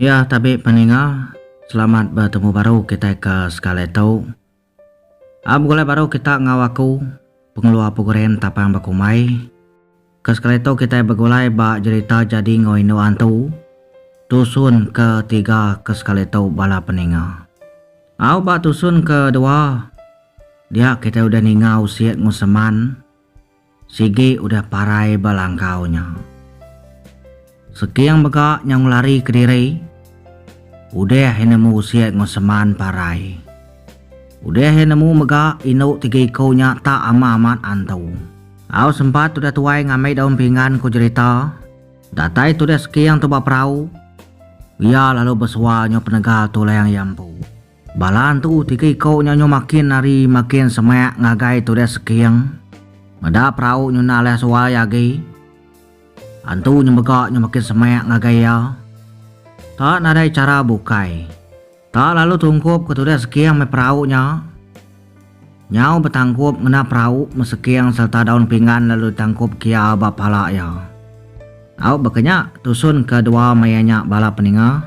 Ya tabi peninga, selamat betemu baru kitai ke sekali tu. A begulai baru kita enggau aku, pengeluar program Tapang Bekumbai. Ke sekali tu kitai begulai ba jerita Jadi Enggau Indu Antu, tusun ke tiga ke sekali tu bala peninga. Au ba tusun ke dua, dia kitai udah ninga usik enggau seman. Sigi udah parai ba langkau nya. Seking mega nyau lari kediri. Udah iya nemu sik enggau seman parai. Udah iya nemu mega indu tiga iku nya tak ama amat antu. Au sempat udah tuai ngambi daun pinggan ku jerita. Datai tudah Seking tu ba perau. Iya lalu besual nyau penegal tulang iya empu. Bala antu tiga iko nya nyu makin ari makin semak ngagai turis seking. Meda perau nyu enda leh suai agi. Antu nyemega nyu makin semak ngagai iya. Ta nadai chara bukai. Ta lalu tungkup ke turis seking meh perau nya. Nyau betangkup ngena perau meh seking sereta daun pinggan lalu ditangkup ke iya ba pala iya. Au baka nya tusun ke dua maya nya bala peninga.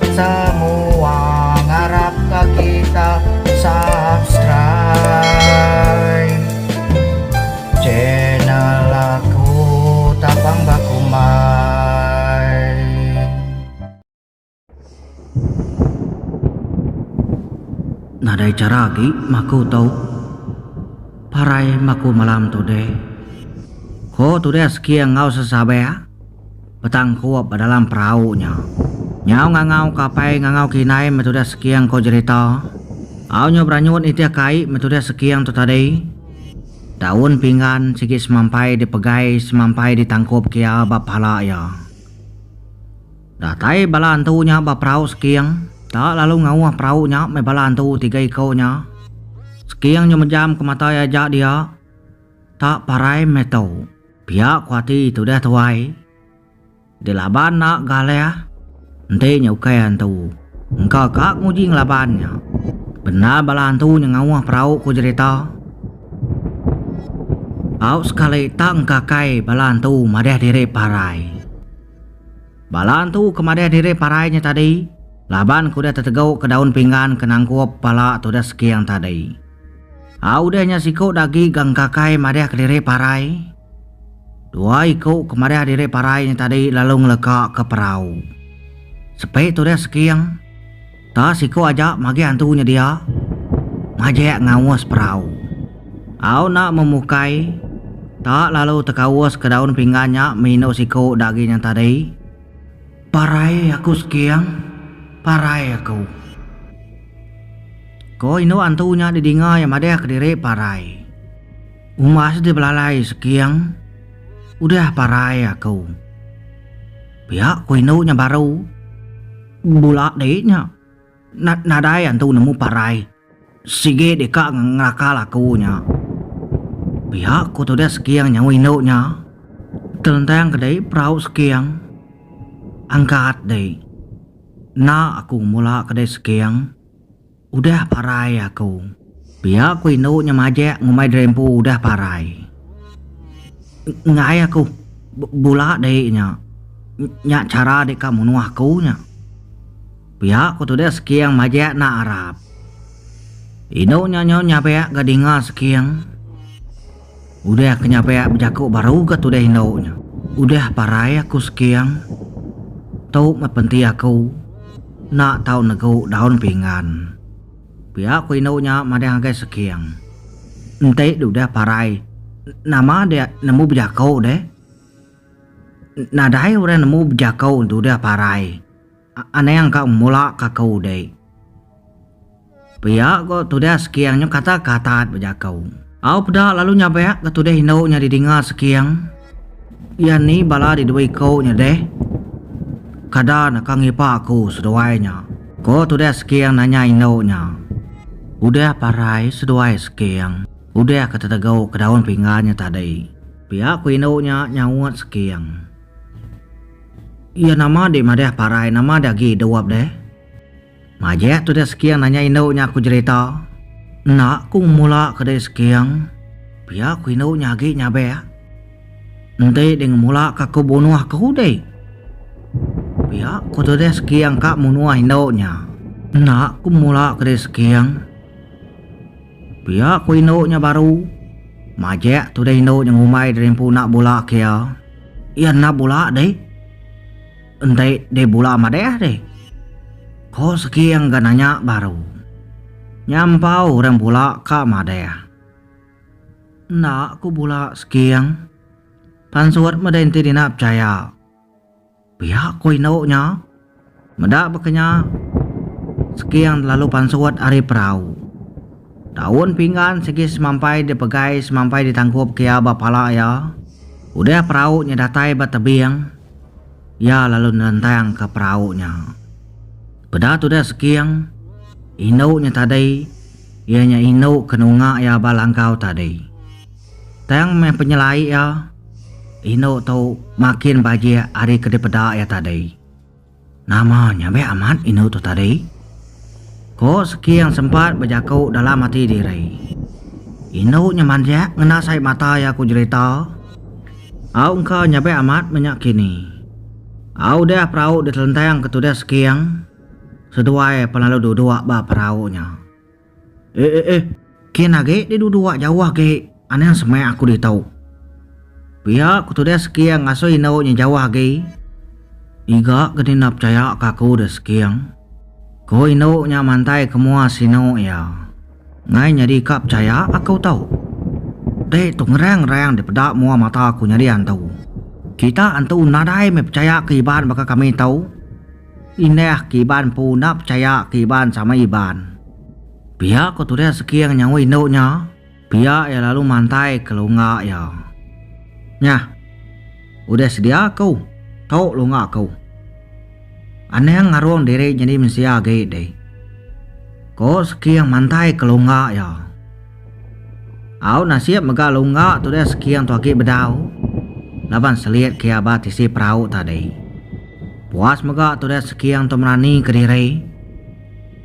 Semua ngarap ka kita subscribe channel aku tapang bakumbai. Nadai chara agi maku tu parai maku malam tu deh. Ko tu deh seking enggau sesabeh. Petang kup ba dalam perau nya. Nyau ngangau ke apai ngangau ke indai meh tudah seking ko jerita. Au nyau beranyut nitih ke ai meh tudah seking tu tadi. Daun pinggan sigi semampai dipegai semampai ditangkup ke iya ba pala iya. Datai bala antu nya ba perau seking. Ta lalu ngauh perau nya meh bala antu tiga iko nya. Seking nyau mejam ke mata iya aja dia. Ta parai meh tu. Pia ku ati tudah tuai. Dilaban enda galih. Enti nya ukai antu. Engka ka nguji ngelaban nya. Bendar bala antu nya ngauh perau ku jerita. Au sekali tak engkakai bala antu madah diri parai. Bala antu ke madah diri parai nya tadi laban ke udah tetegau ke daun pinggan ke nangkup pala tudah seking tadi. Au deh nya siku dagi ga engkakai madih kediri parai. Dua iku ke madih diri parai nya tadi lalu ngeleka ke perau. Sepi tu deh seking. Ta siku aja magih antu nya dia. Majek ngaus perau. Au enda memukai. Ta lalu tekaus ke daun pinggan nya mih indu siku dagi nya tadi. Parai aku Sekiang, parai aku. Ko indu antu nya didinga iya madah kediri parai. Umas di belalai Sekiang, udah parai aku. Pia ko indu nya baru. Bula dei nya. Nadai antu nemu parai sigi deka ngelakal aku nya. Pia ku tudah Seking nyau indu nya. Telentang ke dei perau Seking. Angkat dei. Enda aku ngemula ke dei Seking. Udah parai aku. Pia ku indu nya majak ngumbai Drempu udah parai. Enggai aku bula dei nya. Nya chara deka munuh aku nya. Pia ku tude Seking majek enda arap. Indu nya nyau nyabek ga dinga Seking. Udah ke nyabek bejaku baru ga tude indu nya. Udah parai aku Seking. Tu meh penti aku enda tau negu daun pinggan. Pia ku indu nya madang agai Seking. Enti udah parai nama dek nemu bejaku deh. Nadai orang nemu bejaku enti udah parai. Anang ka mula ka ko dei. Pia ko tudah Seking nyu kata ka atat bejako. Au peda lalu nyabak ka tudah indu nya di dinga Seking. Iya ni bala di dua iko nya deh. Kada naka ngipa aku seduai nya. Ko tudah Seking nanya indu nya. Udah parai seduai Seking. Udah ka tetego ka daun pinggan nya tadi. Pia ko indu nya nyaut Seking. Iya nama dih madah parai nama dih agi dup dih. Majak tu dih Seking nanya indu nya ku jerita. Enda ku ngemulaka dih Seking. Pia ku indu nya agi nyabak. Enti dih ngemulaka aku bunuh ke undi. Pia ku tu dih Seking ka munuh indu nya. Enda ku ngemulaka dih Seking. Pia ku indu nya baru. Majek tudah indu nya ngumbai diri empu enda bula kia. Iya enda bula dih. Enti dih bula madeh dih. Ko Seking ga nanya baru. Nya empau orang bula ka madeh. Enda ku bula Seking. Pansut meda enti dina pechaya. Pia ko indu nya. Meda baka nya, Seking lalu pansut ari perau. Daun pinggan sigi semampai dipegai semampai ditangkup ke iya ba pala iya. Udah perau nya datai ba tebing, iya lalu nelentang ka perau nya. Peda tudah Seking, indu nya tadi iya nya indu ke nunga iya ba langkau tadi. Tang meh penyelai iya, indu tu makin bajik ari ke dipeda iya tadi. Nama nyabik amat indu tu tadi? Ku Seking sempat bejaku dalam ati diri. Indu nya manjak ngena sai mata iya ku jerita. Au engka nyabik amat menya kini. Au udah perau ditelentang ke tudah Seking seduai pelalu duduk ba perau nya. Eh eh eh. Kin agi deh dudua jauh agi anang semak aku ditu. Pia ku tudah Seking ngasuh indu nya jauh agi. Iga ke dina pechaya ka aku deh Seking. Ku indu nya mantai ke mua sinu iya. Ngai nyadi ka pechaya aku tu. Deh tu ngerang rang dipeda mua mata aku nyadi antu. Kita antu nadai meh pechaya ke Iban baka kami tu. Indah ke Iban empu enda pechaya ke Iban sama Iban. Pia ko Turis Seking nyaut indu nya, pia iya lalu mantai ke lungga iya. Nyah. Udah sedia aku. Tu lungga aku. Anang ngarung diri nyadi mensia agi dih. Ko Seking mantai ke lungga iya. Au nasib mega Lungga tu deh seking tu agi bedau laban selit kia ba tisi perau tadi. Puas mega tu deh seking tu merani ke diri.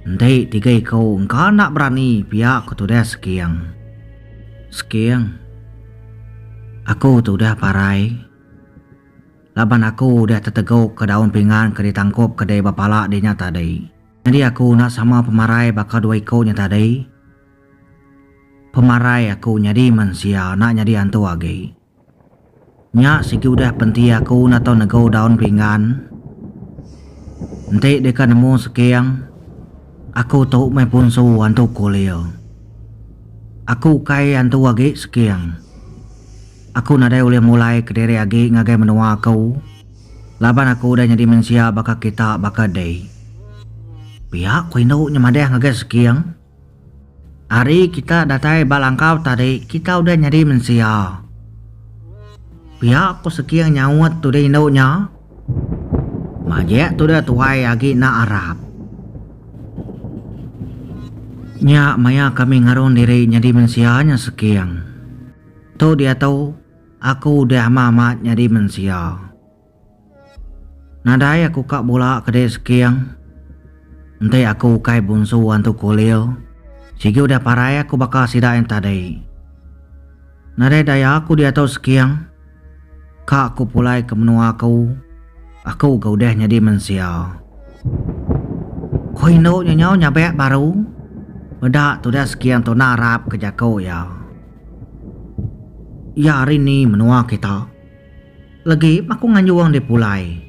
Enti tiga iku engka enda berani pia ku tu deh seking. Seking, aku tu deh parai laban aku deh teteguk ke daun pinggan ke ditangkup ke dei ba pala dinya tadi. Nyadi aku enda sama pemarai baka dua iku nya tadi. Pemarai aku nyadi mensia enda nyadi antu agi. Nya sigi udah penti aku enda tau nego daun pinggan. Enti deka nemu seking, aku tu meh punsu antu kulir. Aku ukai antu agi seking. Aku nadai ulih mulai kediri agi ngagai menua aku laban aku udah nyadi mensia baka kita baka dih. Pia ku indu nya madah ngagai seking. Ari kita datai ba langkau tadi kita udah nyadi mensia. Pia ku Seking nyaut tudah indu nya. Majek tudah tuai agi enda arap. Nya maya kami ngarung diri nyadi mensia nya Seking. Tu diatu aku udah amat-amat nyadi mensia. Nadai aku ka bula ke dei Seking. Enti aku ukai bunsu antu Kulil, sigi udah parai aku baka sida yang tadi. Nadai daya aku diatu Seking. Ka aku pulai ke menua aku, aku ga udah nyadi mensia. Ko indu nya nyau nyabek baru. Peda tudah Seking tu narap ke jaku iya. Iya ari ni menua kita? Legi aku nganjung deh pulai.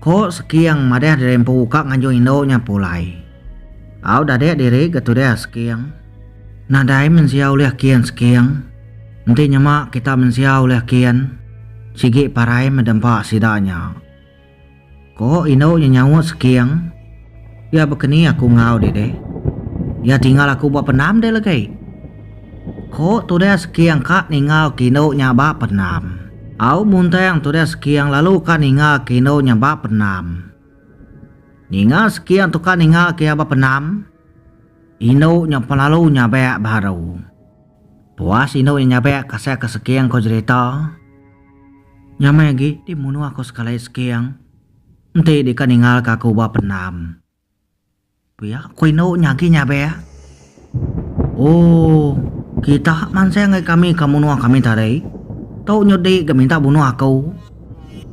Ko Seking madah diri empu ka nganjung indu nya pulai. Au dadek diri ga tudah Seking. Nadai mensia ulih kin Seking. Enti nyema kita mensia ulih kin. Sigi parai meda empa sida nya. Ko indu nya nyaut seking. Pia bekeni aku enggau deh deh. Iya tinggal aku ba pendam deh legi. Ko tudah seking ka ninggal ke indu nya ba pendam. Au muntang tudah seking lalu ka ninggal ke indu nya ba pendam. Ninga seking tu ka ninggal ke iya ba pendam, indu nya pelalu nyabak baru. Puas indu nya nyabek kasih ke Seking ko jerita. Nya meh agi di munuh ko sekali Seking. Enti deka ningal ka aku ba pendam. Pia ko indu nya agi nyabek. Ooh kita mansang ngai kami ka munuh kami tadi. Tu nyut di ga minta bunuh aku.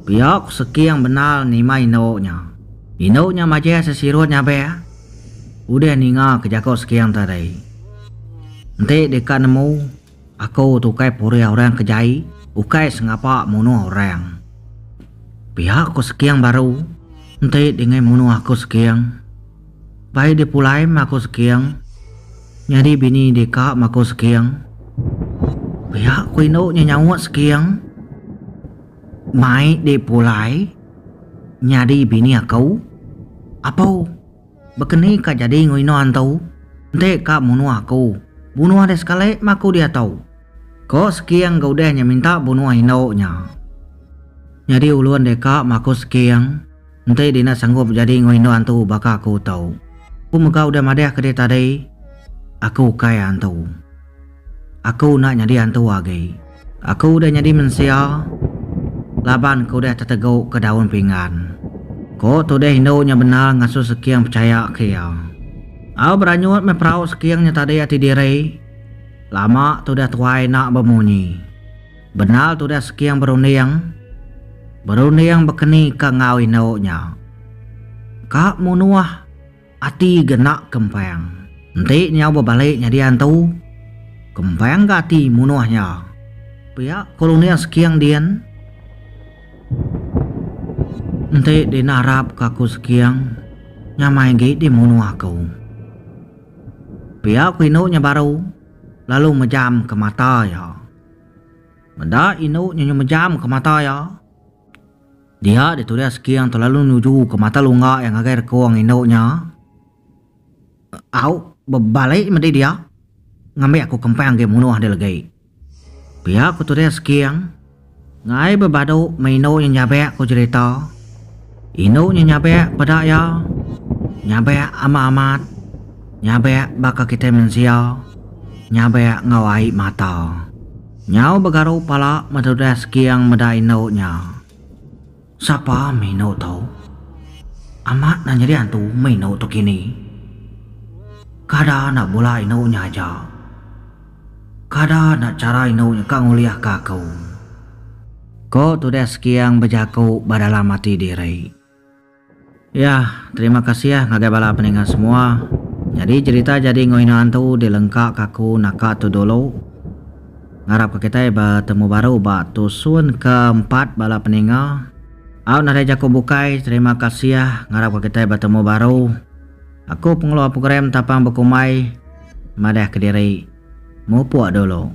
Pia ko Seking bendar nima indu nya. Indu nya majak sesirut nyabek. udah ninga ke jako seking tadi. Enti deka nemu aku tu ukai purih orang ke jai ukai sengapa munuh orang. Pia ko seking baru enti dingai munuh aku seking. Bai di pulai meh aku seking nyadi bini deka meh aku seking. Pia ko indu nya nyaut seking. Mai di pulai. Nyadi bini aku? Apo? Baka ni ka jadi enggau ino antu? Enti ka munuh aku, bunuh deh sekali meh aku diatu! ko Seking enggau udih nya minta bunuh indu nya. Nyadi ulun deka meh aku Seking, enti dina sanggup jadi enggau indu antu baka aku tu. Ku mega udah madahka dia tadi, aku ukai antu. Aku enda nyadi antu agi. Aku udah nyadi mensia laban aku udah teteguka daun pinggan, ko Tudeh indu nya bendar ngasuh Seking pechayaka iya. Au beranyut meh perau Seking nya tadi ati diri. Lama Tudeh tuai enda bemunyi. Bendar Tudeh Seking berunding. Berunding bekenika enggau indu nya. Ka munuh. Ati genak Kempang enti nyau bebalik nyadi antu. Kempang ga ati munuh nya. Pia Kolonel Sekiang din. Enti dinarap ka ku Sekiang, nyamai gi di munuh ku. Pia ku indu nya baru lalu mejam ka mata iya. Meda indu nya mejam ka mata iya. Dia ditu dia Sekiang tu lalu nuju ke mata lungga iya ngagai rekong indu nya. Au, bebali medi dia ngambi aku kempang agi munuh dia legi. Pia ku tu dia Sekiang. Ngai bebadu meh indu nya nyabak ku jerita. Indu nya nyabak peda iya. Nyabak ama amat. Nyabak baka kitai mensia nyabak enggau ai mata. Nyau begaru pala metudah sekiang meda indu nya. Sapa meh indu tu? Amat enda nyadi antu meh indu tu kini. Kada enda bula indu nya aja. Kada enda chara indu nya ka ngulihka aku. Ko tudah sekiang bejaku ba dalam ati diri. Ya, terima kasih ngagai bala peninga semua. Nyadi jerita jadi enggau inaan tu dilengka ka aku naka tu dulu. Ngarap ka kitai betemu baru ba tusun ke empat bala peninga. Au nadai jaku bukai, terima kasih ngarap ka kitai betemu baru. Aku pengeluar program tapang bekumbai madah kediri. Mupuk dulu.